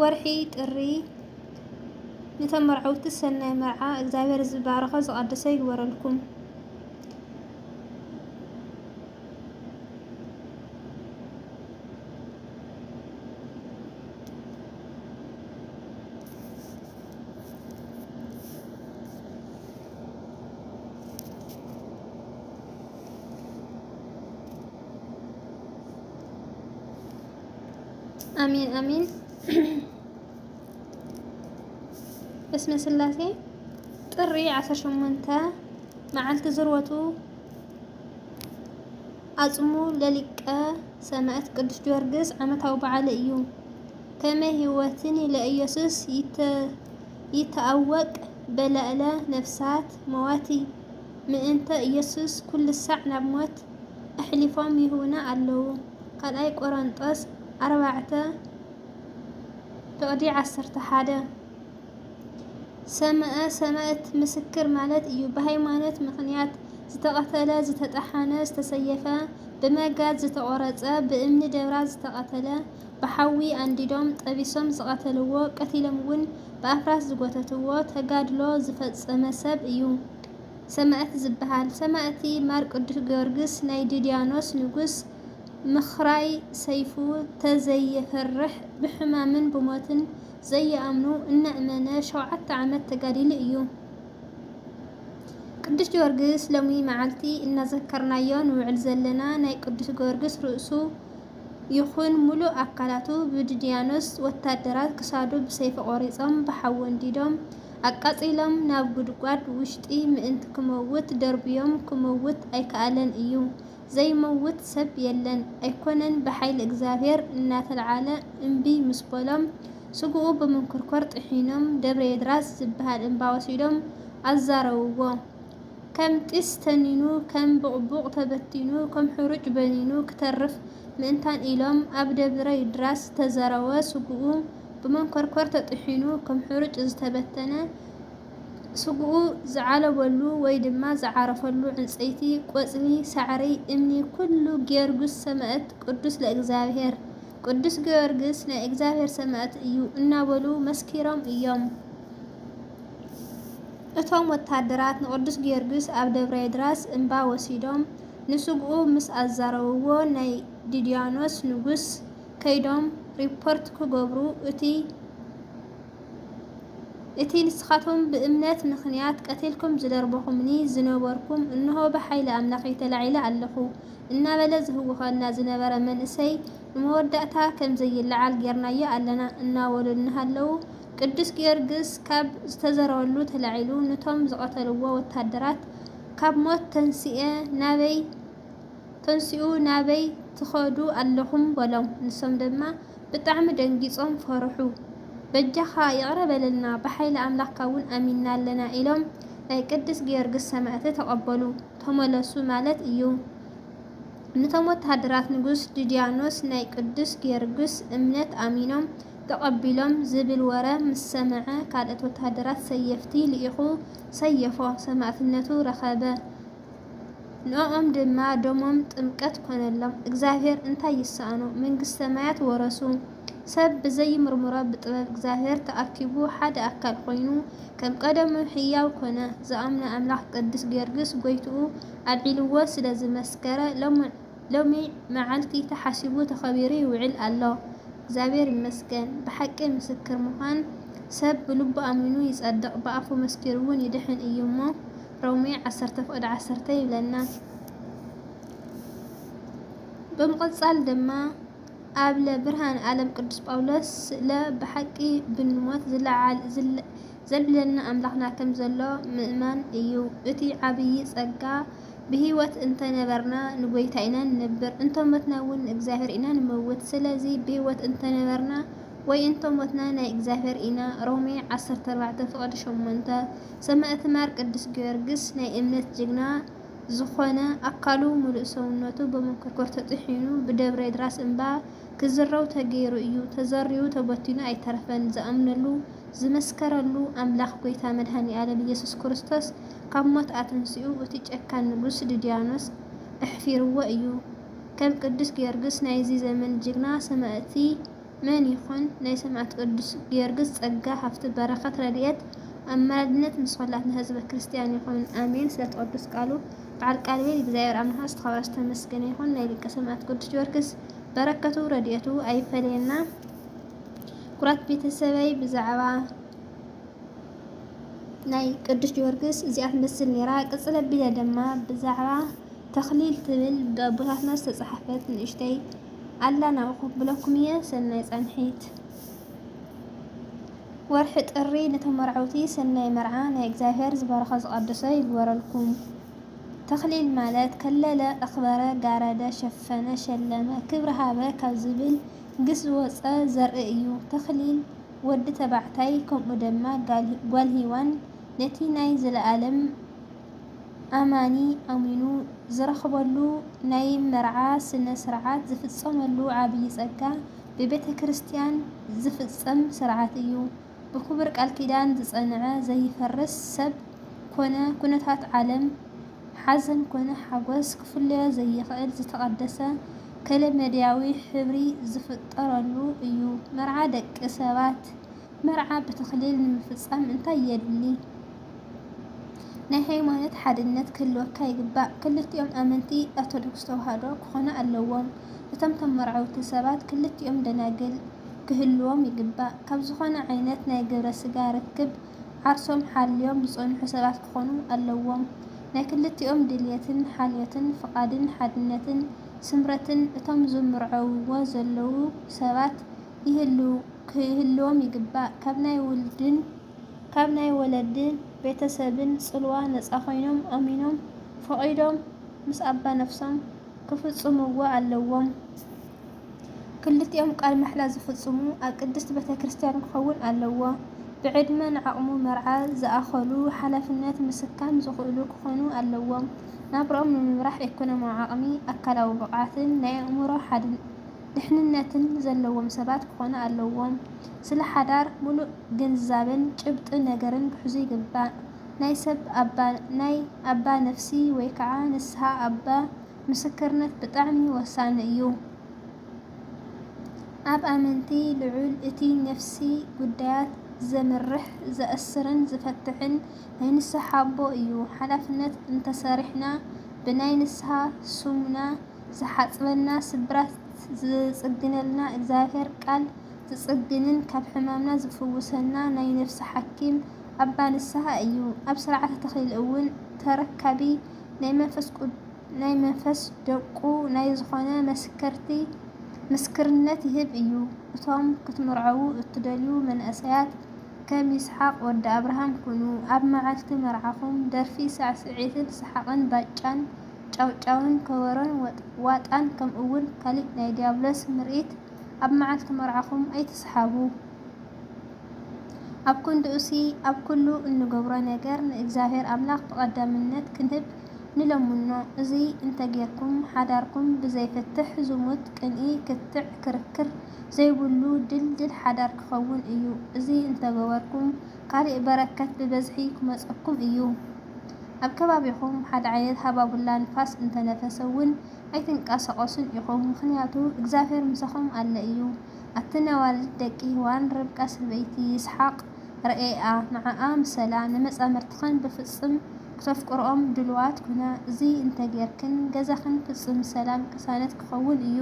ወርሒ ጥሪ ንተመርዐውቲ ሰናይ መርዓ እግዚኣብሔር ዝባረኾ ዝቀደሰ ይግበረልኩም። አሚን አሚን። በስመ ስላሴ ጥሪ 18 መዓልቲ ዝርወቱ ኣጽሙ ለሊቀ ሰማዕት ቅዱስ ጊዮርጊስ ዓመታዊ በዓል እዩ። ከመ ህይወትን ለኢየሱስ ይተአወቅ በላእለ ነፍሳት መዋቲ ምእንተ ኢየሱስ ኩልሳዕ ናብ ሞት ኣሕሊፎም ይህቡና ኣለዉ። ካልኣይ ቆረንጦስ ኣርባዕተ ፍቕዲ ዓሰርተ ሓደ ሰምዐ ሰማእት ምስክር ማለት እዩ። ብሃይማኖት ምኽንያት ዝተቐተለ፣ ዝተጠሓነ፣ ዝተሰየፈ፣ ብመጋዝ ዝተቖረፀ፣ ብእምኒ ደብራ ዝተቐተለ፣ ብሓዊ ኣንዲዶም ጠቢሶም ዝቐተልዎ፣ ቀቲሎም'ውን ብኣፍራስ ዝጎተትዎ ተጋድሎ ዝፈፀመ ሰብ እዩ። ሰማእቲ ዝብሃል። ሰማእቲ ማር ቅዱስ ጊዮርግስ ናይ ድድያኖስ ንጉስ ምክራይ ሰይፉ ተዘይየፍርሕ ብሕማምን ብሞትን ዘየኣምኑ እናእመነ ሸውዓተ ዓመት ተጋዲሉ እዩ። ቅዱስ ጊዮርግስ ሎሚ መዓልቲ እናዘከርናዮ ንውዕል ዘለና ናይ ቅዱስ ጊዮርግስ ርእሱ ይኹን ሙሉእ ኣካላቱ ብድድያኖስ ወታደራት ክሳዱ ብሰይፊ ቆሪፆም ብሓዊ ኣንዲዶም ኣቃጺሎም ናብ ጉድጓድ ውሽጢ ምእንቲ ክመውት ደርብዮም ክመውት ኣይከኣለን እዩ ዘይመውት ሰብ የለን ኣይኮነን ብሓይሊ እግዚኣብሔር እናተልዓለ እምቢ ምስ በሎም ስግኡ ብምንኩርኮር ጥሒኖም ደብረየድራስ ዝብሃል እምባ ወሲዶም ኣዛረውዎ ከም ጢስ ተኒኑ ከም ቡቕቡቕ ተበቲኑ ከም ሑሩጭ በኒኑ ክተርፍ ምእንታን ኢሎም ኣብ ደብረይድራስ ዝተዘረወ ስግኡ ብመንኮርኮር ተጥሒኑ ከም ሕሩጭ ዝተበተነ፣ ስግኡ ዝዓለበሉ ወይ ድማ ዝዓረፈሉ ዕንጸይቲ፣ ቆጽሊ፣ ሳዕሪ፣ እምኒ ኩሉ ጊዮርጉስ ሰማእት ቅዱስ ለእግዚኣብሔር፣ ቅዱስ ጊዮርግስ ናይ እግዚኣብሔር ሰማእት እዩ እናበሉ መስኪሮም እዮም። እቶም ወታደራት ንቅዱስ ጊዮርጊስ ኣብ ደብረ የድራስ እምባ ወሲዶም ንስግኡ ምስ ኣዛረብዎ ናይ ድድያኖስ ንጉስ ከይዶም ሪፖርት ክገብሩ እቲ እቲ ንስኻትኩም ብእምነት ምኽንያት ቀቲልኩም ዝደርበኹምኒ ዝነበርኩም እንሆ ብሓይሊ ኣምላኸይ ተላዒለ ኣለኹ እናበለ ዝህውኸና ዝነበረ መንእሰይ ንመወዳእታ ከም ዘይለዓል ጌርናዮ ኣለና እናበሉ እናሃለዉ ቅዱስ ጊዮርግስ ካብ ዝተዘረበሉ ተላዒሉ ንቶም ዝቐተልዎ ወታደራት ካብ ሞት ተንስኤ ናበይ ተንስኡ ናበይ ትኸዱ ኣለኹም በሎም ንሶም ድማ ብጣዕሚ ደንጊፆም ፈርሑ በጃኻ ይቕረ በለልና ብሓይሊ ኣምላኽካ እውን ኣሚንና ኣለና ኢሎም ናይ ቅድስ ጊዮርግስ ሰማእት ተቐበሉ ተመለሱ ማለት እዩ ንቶም ወታሃደራት ንጉስ ድድያኖስ ናይ ቅዱስ ጊዮርግስ እምነት ኣሚኖም ተቐቢሎም ዝብል ወረ ምስ ሰምዐ ካልእት ወታሃደራት ሰየፍቲ ልኢኹ ሰየፎ ሰማእትነቱ ረኸበ ንኦም ድማ ደሞም ጥምቀት ኮነሎም። እግዚኣብሔር እንታይ ይሰኣኖ? መንግስቲ ሰማያት ወረሱ። ሰብ ብዘይምርምሮ ብጥበብ እግዚኣብሔር ተኣኪቡ ሓደ ኣካል ኮይኑ ከም ቀደሙ ሕያው ኮነ። ዝኣምኖ ኣምላኽ ቅዱስ ጊዮርጊስ ጎይትኡ ኣልዒልዎ ስለ ዝመስከረ ሎሚ መዓልቲ ተሓሲቡ ተኸቢሩ ይውዕል ኣሎ። እግዚኣብሔር ይመስገን። ብሓቂ ምስክር ምዃን ሰብ ብልቡ ኣሚኑ ይጸድቕ ብኣፉ መስኪሩውን ይድሕን እዩ እሞ ሮሜ ዓሰርተ ፍቕዲ ዓሰርተ ይብለና። ብምቕጻል ድማ ኣብለ ብርሃን ኣለም ቅዱስ ጳውሎስ ስለ ብሓቂ ብንሞት ዝለዓል ዘልዕለና ኣምላኽና ከም ዘሎ ምእማን እዩ እቲ ዓብዪ ጸጋ። ብህይወት እንተ ነበርና ንጐይታ ኢና ንነብር፣ እንተ ሞትና እውን ንእግዚኣብሔር ኢና ንመውት። ስለዚ ብህይወት እንተ ነበርና ወይ እንተ ሞትና ናይ እግዚኣብሔር ኢና። ሮሜ ዓሰርተ ኣርባዕተ ፍቕዲ ሸሞንተ። ሰማእት ማር ቅዱስ ጊዮርግስ ናይ እምነት ጅግና ዝኾነ ኣካሉ ሙሉእ ሰውነቱ በመንኮርኮር ተጥሒኑ ብደብረ ድራስ እምባ ክዝረው ተገይሩ እዩ ተዘሪኡ ተበቲኑ ኣይተረፈን ዝኣምነሉ ዝመስከረሉ ኣምላኽ ጎይታ መድሃኒኣለም ኢየሱስ ክርስቶስ ካብ ሞት ኣተንሲኡ እቲ ጨካን ንጉስ ድድያኖስ ኣሕፊርዎ እዩ ከም ቅዱስ ጊዮርግስ ናይዚ ዘመን ጅግና ሰማእቲ መን ይኾን ናይ ሰማእት ቅዱስ ጊዮርግስ ጸጋ ሃፍቲ በረከት ረዲኤት ኣማላድነት ምስ ኹላትና ህዝበ ክርስትያን ይኹን ኣሜን ስለቲ ቅዱስ ቃሉ በዓል ቃል ሂወት እግዚኣብሔር ኣምላክና ዝተኸብረ ዝተመስገነ ይኹን ናይ ሊቀ ሰማእት ቅዱስ ጊዮርግስ በረከቱ ረዲኤቱ ኣይፈለየና ኩራት ቤተሰበይ ብዛዕባ ናይ ቅዱስ ጊዮርግስ እዚኣ ትመስል ነራ ቅጽል ኣቢለ ደማ ብዛዕባ ተክሊል ትብል ብኣቦታትና ዝተጻሓፈት ንእሽተይ ኣለና እኹ ክብለኩም እየ ሰናይ ፃንሒት። ወርሒ ጥሪ ንተመርዐውቲ ሰናይ መርዓ ናይ እግዚኣብሔር ዝበረኸ ዝቀደሰ ይግበረልኩም። ተኽሊል ማለት ከለለ፣ ኣኽበረ፣ ጋረደ፣ ሸፈነ፣ ሸለመ፣ ክብሪ ሃበ ካብ ዝብል ግስ ዝወፀ ዘርኢ እዩ። ተኽሊል ወዲ ተባዕታይ ከምኡ ደማ ጋል ሂዋን ነቲ ናይ ዘለኣለም ኣማኒ ኣሚኑ ዝረኽበሉ ናይ መርዓ ስነ ስርዓት ዝፍፀመሉ ዓብዪ ፀጋ ብቤተ ክርስቲያን ዝፍፀም ስርዓት እዩ። ብኽቡር ቃል ኪዳን ዝፀንዐ ዘይፈርስ ሰብ ኮነ ኩነታት ዓለም ሓዘን ኮነ ሓጎስ ክፍለዮ ዘይኽእል ዝተቐደሰ ከለመድያዊ ሕብሪ ዝፍጠረሉ እዩ። መርዓ ደቂ ሰባት መርዓ ብተክሊል ንምፍፃም እንታይ የድሊ? ናይ ሃይማኖት ሓድነት ክህልወካ ይግባእ። ክልቲኦም ኣመንቲ ኦርቶዶክስ ተዋህዶ ክኾኑ ኣለዎም። እቶም ተመርዐውቲ ሰባት ክልቲኦም ደናግል ክህልዎም ይግባእ። ካብ ዝኾነ ዓይነት ናይ ግብረ ስጋ ርክብ ዓርሶም ሓልዮም ዝፀንሑ ሰባት ክኾኑ ኣለዎም። ናይ ክልቲኦም ድልየትን ሓልዮትን ፍቓድን ሓድነትን ስምረትን እቶም ዝምርዐውዎ ዘለዉ ሰባት ክህልዎም ይግባእ። ካብ ናይ ውልድን ካብ ናይ ወለድን ቤተሰብን ጽልዋ ነጻ ኮይኖም ኣሚኖም ፈቒዶም ምስ ኣባ ነፍሶም ክፍጽምዎ ኣለዎም። ክልቲኦም ቃል ማሕላ ዝፍጽሙ ኣብ ቅድስት ቤተክርስትያን ክኸውን ኣለዎ። ብዕድመን ዓቕሙ መርዓ ዝኣኸሉ ሓላፍነት ምስካም ዝኽእሉ ክኾኑ ኣለዎም። ናብርኦም ንምምራሕ ኤኮኖሚያዊ ዓቕሚ፣ ኣካላዊ ብቕዓትን ናይ ኣእምሮ ሓድነትን። ድሕንነትን ዘለዎም ሰባት ክኾኑ ኣለዎም። ስለ ሓዳር ሙሉእ ግንዛበን ጭብጢ ነገርን ክሕዙ ይግባእ። ናይ ሰብ ኣባ ናይ ኣባ ነፍሲ ወይ ከዓ ንስሃ ኣባ ምስክርነት ብጣዕሚ ወሳኒ እዩ። ኣብ ኣመንቲ ልዑል እቲ ነፍሲ ጉዳያት ዘምርሕ፣ ዘእስርን ዝፈትሕን ናይ ንስሃ ኣቦ እዩ። ሓላፍነት እንተሰሪሕና ብናይ ንስሃ ስሙና፣ ዝሓጽበና ስብራት ዝጽግነልና እግዚኣብሔር ቃል ዝጽግንን ካብ ሕማምና ዝፍውሰና ናይ ነፍሲ ሓኪም ኣባ ንስሃ እዩ ኣብ ሥርዓተ ተክሊል እውን ተረካቢ ናይ መንፈስ ደቁ ናይ ዝኾነ መስከርቲ ምስክርነት ይህብ እዩ እቶም ክትምርዐዉ እትደልዩ መንእሰያት ከም ይስሓቅ ወዲ ኣብርሃም ኩኑ ኣብ መዓልቲ መርዓኹም ደርፊ ሳዕስዒትን ሰሓቅን ባጫን ጫውጫውን ከበሮን ዋጣን ከምኡውን ካሊእ ናይ ዲያብሎስ ምርኢት ኣብ መዓልቲ መርዓኹም ኣይትስሓቡ። ኣብ ክንድኡሲ ኣብ ኩሉ እንገብሮ ነገር ንእግዚኣብሔር ኣምላኽ ብቐዳምነት ክንህብ ንለምኖ። እዚ እንተ ጌርኩም ሓዳርኩም ብዘይፍትሕ፣ ዝሙት፣ ቅንኢ፣ ክትዕ፣ ክርክር ዘይብሉ ድልድል ሓዳር ክኸውን እዩ። እዚ እንተ ገበርኩም፣ ካሊእ በረከት ብበዝሒ ክመፀኩም እዩ። ኣብ ከባቢኹም ሓደ ዓይነት ሃባቡላ ንፋስ እንተነፈሰ እውን ኣይትንቀሳቀሱን ኢኹም ምኽንያቱ እግዚኣብሔር ምሳኹም ኣለ እዩ። ኣቲ ነዋልድ ደቂ ህዋን ርብቃ ሰበይቲ ይስሓቅ ረኤኣ ንዓኣ ምሰላ ንመፃምርትኽን ብፍፅም ክተፍቅርኦም ድልዋት ኩና እዚ እንተገይርክን ገዛኽን ፍፅም ሰላም ቅሳነት ክኸውን እዩ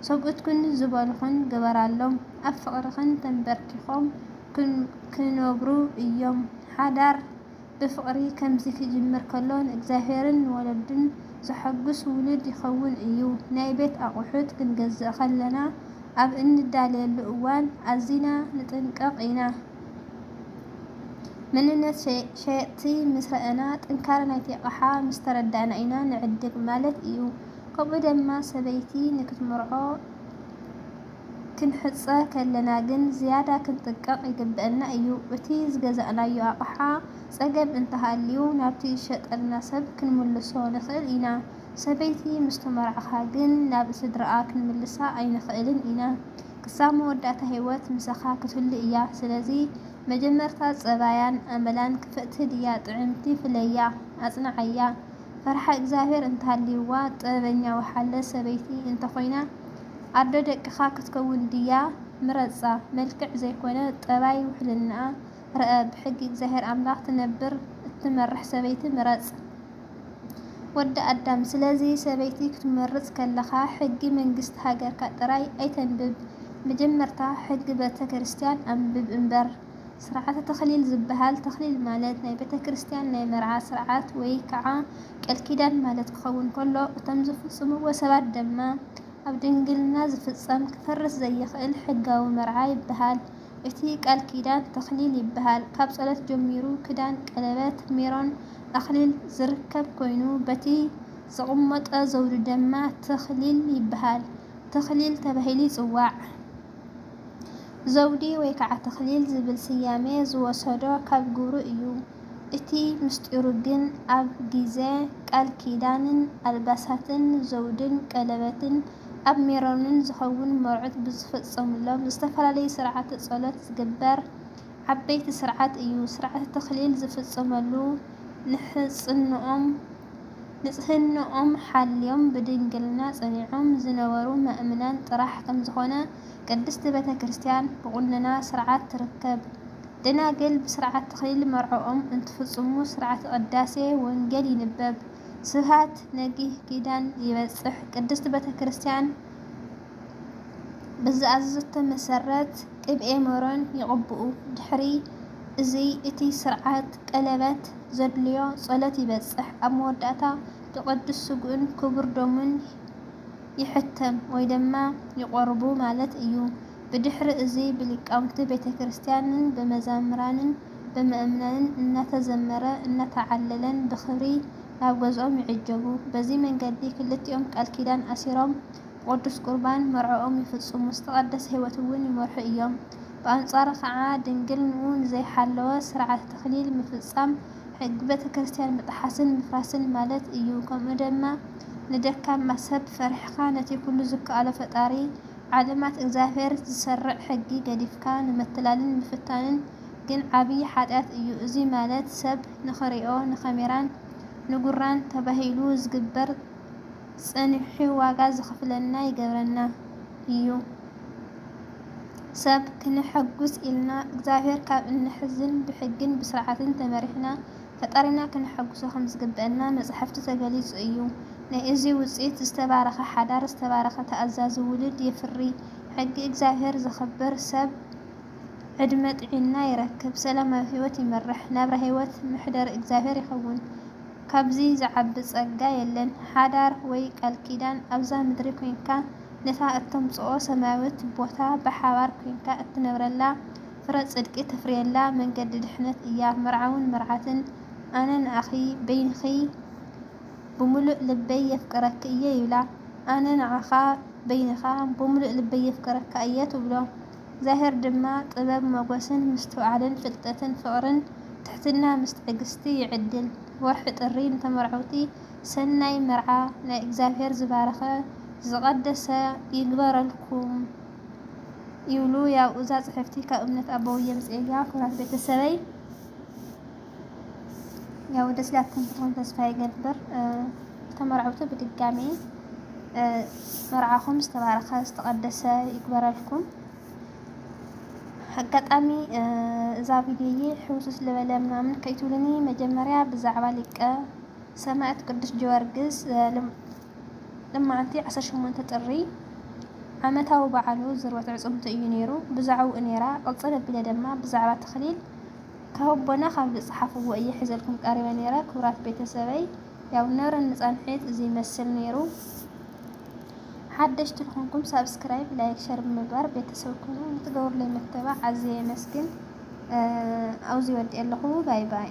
ሰብኡትክን ዝበሉኽን ግበራሎም ኣብ ፍቅርኽን ተንበርኪኾም ክነብሩ እዮም። ሓዳር ብፍቕሪ ከምዚ ክጅምር ከሎ ንእግዚኣብሔርን ንወለዱን ዘሐጉስ ውሉድ ይኸውን እዩ። ናይ ቤት ኣቑሑት ክንገዝእ ከለና ኣብ እንዳልየሉ እዋን ኣዚና ንጥንቀቕ ኢና። መንነት ሸየጥቲ ምስ ረኣና ጥንካረ ናይቲ ኣቕሓ ምስ ተረዳእና ኢና ንዕድግ ማለት እዩ። ከምኡ ደማ ሰበይቲ ንክትምርዖ፣ ክንሕጸ ከለና ግን ዝያዳ ክንጥንቀቕ ይግበእና እዩ። እቲ ዝገዛእናዮ ኣቕሓ ጸገም እንተሃልዩ ናብቲ ዝሸጠልና ሰብ ክንምልሶ ንኽእል ኢና። ሰበይቲ ምስ ተመርዓኻ ግን ናብ ስድራኣ ክንምልሳ ኣይንኽእልን ኢና። ክሳብ መወዳእታ ህይወት ምሳኻ ክትህሉ እያ። ስለዚ መጀመርታ ጸባያን ኣመላን ክፍእቲ ድያ ጥዕምቲ ፍለያ። ኣጽንዓያ። ፈርሓ እግዚኣብሔር እንተሃልይዋ ጥበበኛ ወሓለ ሰበይቲ እንተኾይና፣ ኣዶ ደቅኻ ክትከውን ድያ? ምረጻ። መልክዕ ዘይኮነ ጠባይ ውሕልናኣ ርኣ። ብሕጊ እግዚኣብሔር ኣምላኽ ትነብር እትመርሕ ሰበይቲ ምረጽ። ወዲ ኣዳም ስለዚ ሰበይቲ ክትመርጽ ከለኻ ሕጊ መንግስቲ ሃገርካ ጥራይ ኣይተንብብ መጀመርታ ሕጊ በተክርስትያን ኣንብብ እምበር። ስርዓተ ተክሊል ዝበሃል፣ ተክሊል ማለት ናይ ቤተ ክርስቲያን ናይ መርዓ ስርዓት ወይ ከዓ ቀል ኪዳን ማለት ክኸውን ከሎ እቶም ዝፍፅምዎ ሰባት ደማ ኣብ ድንግልና ዝፍፀም ክፈርስ ዘይኽእል ሕጋዊ መርዓ ይበሃል። እቲ ቃል ኪዳን ተክሊል ይበሃል። ካብ ፀሎት ጀሚሩ ክዳን፣ ቀለበት፣ ሜሮን፣ ኣክሊል ዝርከብ ኮይኑ በቲ ዝቕመጦ ዘውዲ ደማ ተክሊል ይበሃል። ተክሊል ተባሂሉ ይፅዋዕ። ዘውዲ ወይ ከዓ ተኽሊል ዝብል ስያሜ ዝወሰዶ ካብ ግብሩ እዩ። እቲ ምስጢሩ ግን ኣብ ጊዘ ቃል ኪዳንን ኣልባሳትን፣ ዘውድን ቀለበትን፣ ኣብ ሜሮንን ዝኸውን መርዑት ብዝፍፀሙሎም ዝተፈላለዩ ስርዓተ ፀሎት ዝግበር ዓበይቲ ስርዓት እዩ። ስርዓተ ተኽሊል ዝፍፀመሉ ንሕፅንኦም፣ ንጽህንኦም ሓልዮም ብድንግልና ጸኒዖም ዝነበሩ መእምናን ጥራሕ ከምዝኾነ ቅድስት ቤተ ክርስቲያን ብቁነና ሥርዓት ትርከብ። ደናግል ብሥርዓት ተክሊል መርዕኦም እንትፍጽሙ ሥርዓተ ቅዳሴ ወንጌል ይንበብ ስብሐት ነግህ ኪዳን ይበጽሕ ቅድስት ቤተ ክርስቲያን ብዝኣዘዘቶ መሰረት ቅብኤ መሮን ይቕብኡ። ድሕሪ እዚ እቲ ስርዓት ቀለበት ዘድልዮ ጸሎት ይበጽሕ። ኣብ መወዳእታ ብቅዱስ ስግኡን ክቡር ደሙን ይሕተም ወይ ድማ ይቖርቡ ማለት እዩ። ብድሕሪ እዚ ብሊቃውንቲ ቤተክርስትያንን ብመዘምራንን ብምእምናንን እናተዘመረ እናተዓለለን ብኽብሪ ናብ ገዝኦም ይዕጀቡ። በዚ መንገዲ ክልቲኦም ቃል ኪዳን ኣሲሮም ብቅዱስ ቁርባን መርዕኦም ይፍጽሙ፣ ዝተቐደሰ ሕይወት እውን ይመርሑ እዮም። ብኣንጻሩ ኸኣ ድንግልንኡ ንዘይሓለወ ሥርዓተ ተክሊል ምፍጻም ሕጊ ቤተ ክርስቲያን ምጥሓስን ምፍራስን ማለት እዩ። ከምኡ ድማ ንደካማ ሰብ ፈሪሕኻ ነቲ ኩሉ ዝከኣሎ ፈጣሪ ዓለማት እግዚኣብሔር ዝሰርዕ ሕጊ ገዲፍካ ንመትላልን ምፍታንን ግን ዓቢይ ኃጢኣት እዩ። እዙይ ማለት ሰብ ንኽሪኦ ንካሜራን ንጉራን ተባሂሉ ዝግበር ጽንሒ ዋጋ ዘኽፍለና ይገብረና ኢዩ። ሰብ ክነሐጉስ ኢልና እግዚኣብሔር ካብ እነሕዝን ብሕግን ብስርዓትን ተመሪሕና ፈጣሪና ክነሐጉሶ ከምዝግበእና መጻሕፍቲ ተገሊጹ ኢዩ። ናይ እዚ ውጽኢት ዝተባረኸ ሓዳር ዝተባረኸ ተኣዛዚ ውሉድ የፍሪ። ሕጊ እግዚኣብሔር ዘኽብር ሰብ። ዕድመ ጥዒና ይረክብ ሰላማዊ ሂወት ይመርሕ ናብራ ሂወት መሕደሪ እግዚኣብሔር ይከውን ካብዚ ዝዓቢ ጸጋ የለን ሓዳር ወይ ቃልኪዳን ኣብዛ ምድሪ ኮንካ ነታ እተምጽኦ ሰማያዊት ቦታ ብሓባር ኮንካ እትነብረላ ፍረ ጽድቂ ተፍርየላ መንገዲ ድሕነት እያ መርዓውን መርዓትን ኣነ ንኣኺ በይንኺ ብምሉእ ልበይ የፍቅረኪ እየ ይብላ ኣነ ንዓኻ በይንኻ ብምሉእ ልበይ የፍቅረካ እየ ትብሎ ዛሄር ድማ ጥበብ ሞጎስን ምስትውዓልን ፍልጠትን ፍቅርን ትሕትና ምስ ትዕግስቲ ይዕድል ወርሒ ጥሪ ንተመርዐውቲ ሰናይ መርዓ ናይ እግዚኣብሔር ዝባረከ ዝቀደሰ ይግበረልኩም ይብሉ ያው እዛ ፅሕፍቲ ካብ እምነት ኣቦውየ ምፅኤያ ክብራት ቤተሰበይ ያው ደስ ላትኩም ትኾን ተስፋ ይገብር ተመራዕውቲ ብድጋሚ መርዓኹም ዝተባረኸ ዝተቐደሰ ይግበረልኩም። ኣጋጣሚ እዛ ቪድዮዬ ሕውስስ ልበለ ምናምን ከይትብሉኒ መጀመርያ ብዛዕባ ሊቀ ሰማዕት ቅዱስ ጊዮርጊስ ልማዓንቲ 18 ጥሪ ዓመታዊ በዓሉ ዝርወት ዕፅምቱ እዩ ነይሩ ብዛዕባኡ ነይራ ቅፅል ኣቢለ ድማ ብዛዕባ ተኽሊል ካቦና ካብ ዝጸሓፍዎ እየ ሕዘልኩም ቀሪበ ነይረ ክብራት ቤተ ሰበይ ያው ነረኒ ጻንሒት እዚ ይመስል ነይሩ ሓደሽቲ ዝኾንኩም ሳብስክራይብ ላይክ ሸር ብምግባር ቤተ ሰብ ኩኑ ንትገብሩለይ መተባዕ ኣዝየ የመስግን ኣውዚ ወዲኤ ኣለኹ ባይ ባይ